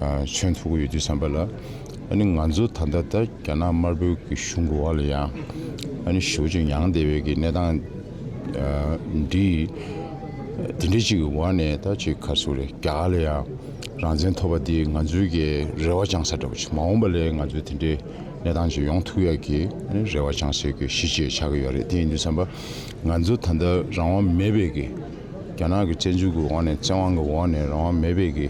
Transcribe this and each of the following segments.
མཚོན་ཐུབ་ཀྱི་ཡོད་དུས་བསམ་པ་ལ། ཨ་ནི་ང་ཚོ་ད་ལྟ་ལྟར་རྒྱ་ནག་དམར་པོའི་གི་གཞུང་གི་འོག་ལ་ཡང་ཨ་ནི་ཞི་བ་ཅུང་ཡང་བདེ་བའི་གི་གནས་སྟངས་འདི་འདི་འདྲའི་ཅིག་གི་འོག་ནས་ད་ཅིག་ག་སུ་རེད་རྒྱ་གར་ལ་ཡང་རང་བཙན་ཐོབ་པ་འདི་ང་ཚོའི་གི་རེ་བ་བཅང་ས་འདྲ་པོ་ཅིག་མ་འོངས་པ་ལས་ང་ཚོའི་དེ་འདྲའི་གནས་སྟངས་ཅིག་ཡོང་ཐུབ་ཡ་གི་ཨ་ནི་རེ་བ་བཅང་སའི་གི་གཞི་བཅས་ཆགས་ཀྱི་ཡོད་རེད་དེ་ཡིན་དུས་བསམ་པ་ང་ཚོ་ད་ལྟ་རང་དབང་མེད་པའི་གི། རྒྱ་ནག་གི་དཔྱད་འཇུག་གི་འོག་ནས་བཙན་དབང་གི་འོག་ནས་རང་དབང་མེད་པའི་གི་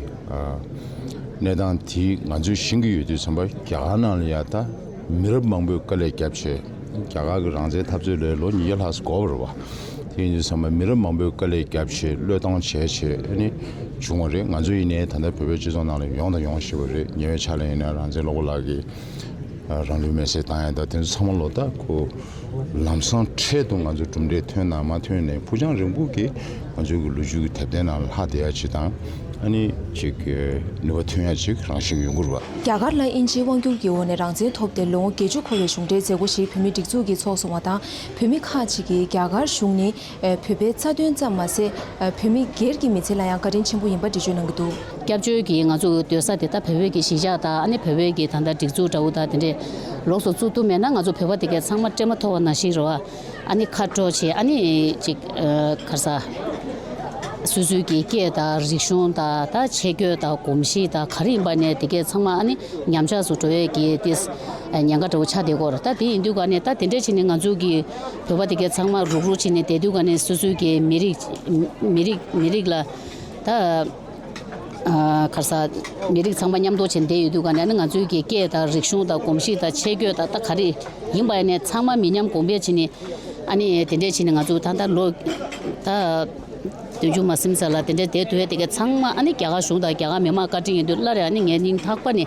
གནས་སྟངས་དེ་ང་ཚོས་བཞེངས་ཀྱི་ཡོད་དུས་ཚང་པ་རྒྱ་གར་ནང་ལ་ཡང་ད་མི་རབས་མང་པོས་དཀའ་ལས་བརྒྱབ་བྱས་རྒྱ་གར་གི་རང་བཙན་འཐབ་རྩོད་ལས་ལོ་ཉིས་བརྒྱ་ལྷག་འགོར་བར་བ་དེ་ཡིན་དུས་ཚང་མ་མི་རབས་མང་པོས་དཀའ་ལས་བརྒྱབ་བྱས་བློས་བཏང་བྱས་བྱས་ནི་བྱུང་བ་རེད་ང་ཚོ་ཡིན་ནའི་ད་ལྟ་བོད་པའི་སྤྱི་ཚོགས་ནང་ལ་ཡོང་དང་ཡོང་ཤེས་པ་རེད་ཉེ་བའི་ཆ་ལ་ཡིན་ན་རང་བཙན་སློབ་གོ་ལགས་ཀྱིས། རང་ལུས་མེར་སྲེག་བཏང་ཡང་དེ་ཚོ་ཚང་མ་ལོ་ཏོག་གོ། ལམ་སང་འཕྲལ་དུ་ང་ཚོ་གྲུབ་འབྲས་ཐོན་ནམ་མ་ཐོན་ནས་ཕུགས་རྒྱང་རིང་པོ་གི་ང་ཚོའི་གི་ལོ་རྒྱུས་ཀྱི་དེབ་ཐེར་ནང་ལ་ལྷག་བསྡད་ཡ་ཆེད་དང། ཨ་ནི་ཅིག་གི་ནུས་པ་ཐོན་ཡ་ཅིག་རང་བཞིན་ཡོད་འགུར་བ། རྒྱ་གར་ལ་དབྱིན་ཇིའི་དབང་བསྒྱུར་གྱི་འོག་ནས་རང་བཙན་ཐོབ་ཏེ་ལོ་ངོ་བརྒྱད་ཅུ་འཁོར་བའི་གཞུང་འབྲེལ་མཛད་སྒོ་ཞིག་བོད་མིའི་སྒྲིག་འཛུགས་ཀྱིས་ཚོགས་སོང་བ་དང་བོད་མི་ཁག་ཅིག་གིས་རྒྱ་གར་གཞུང་ནི་བོད་པའི་རྩ་དོན་ཙམ་མ་ཟད། བོད་མི་སྒེར་གྱི་མི་ཚེ་ལ་ཡང་བཀའ་དྲིན་ཆེན་པོ་ཡིན་པ་འགྲེལ་བརྗོད་གནང་གི་འདུག། སྐྱབས་བཅོལ་གྱིས་ང་ཚོ་འོས་སྡོད་ས་དེ་དག་བོད་བོད་ཀྱི་གཞིས་ཆགས་དང་ཨ་ནེ་བོད་བོད་ཀྱི་ད་ལྟ་སྒྲིག་འཛུགས་འདྲ་བོ་དག་དེ་འདྲས་ལོགས་སུ་བཙུགས་ཐུབ་མེད་ན་ང་ཚོ་བོད་པ་དེ་གས་ཚང་མ་སྤྲེལ་མ་ཐོ་བ་ན་ཞིག་རེད་བ། ཨ་ནེ་ཁ་དྲོ་ཆེ་ཨ་ནེ་ཅིག་ཁར་ས། སོ་སོའི་གྱི་སྐད་དང་རིག་གཞུང་དང་ད་ཆས་སྐྱོད་དང་གོམས་གཤིས་དང་ག་རེ་ཡིན་པ་ནས་དེ་གས་ཚང་མ་ཨ་ནེ་ཉམས་ཆགས་སུ་འགྲོ་བས་གྱི་དེ་ཉེན་ཁ་འདྲ་བོ་ཆགས་བསྡད་གོར་ད་དེ་ཡིན་དུས་ག་ནས་ད་དེ་འདྲས་བྱས་ནས་ང་ཚོ་གྱི། བོད་པ་དེ་ག་ཚང་མ་རུག་རུག་བྱེད་ནས་བསྡད་དུས་ག་ནས་སོ་སོའི་གི་མི་རིགས་མི་རིགས་མི་རིགས་ལ་ད་གར་ས་མི་རིགས་ཚང་མ་མཉམ་འདོག་བྱེད་བསྡད་ཡོད་དུས་ག་ནས་ང་ཚོའི་གི་སྐད་དང་རིག་གཞུང་དང་གོམས་གཤིས་དང་ཆས་གོས་དང་ད་ག་རེ་ཡིན་པ་ཡིན་ནས་ཚང་མ་མི་ཉམས་གོང་འཕེལ་བྱེད་ནས་ཨ་ནི་དེ་འདྲས་བྱེད་ནས་ང་ཚོ་ད་ད་ལོ་ད་དུས་འཇུག་མ་སིམ་ས་ལ་དེ་འདྲས་བསྡད་དུས་དེ་ག་ཚང་མ་ཨ་ནི་རྒྱ་གར་གཞུང་དང་རྒྱ་གར་མི་མང་བཀའ་དྲིན་ཡིན་དུས་སླར་ཡང་ཨ་ནི་ངའི་སྙིང་ཐག་པ་ནས།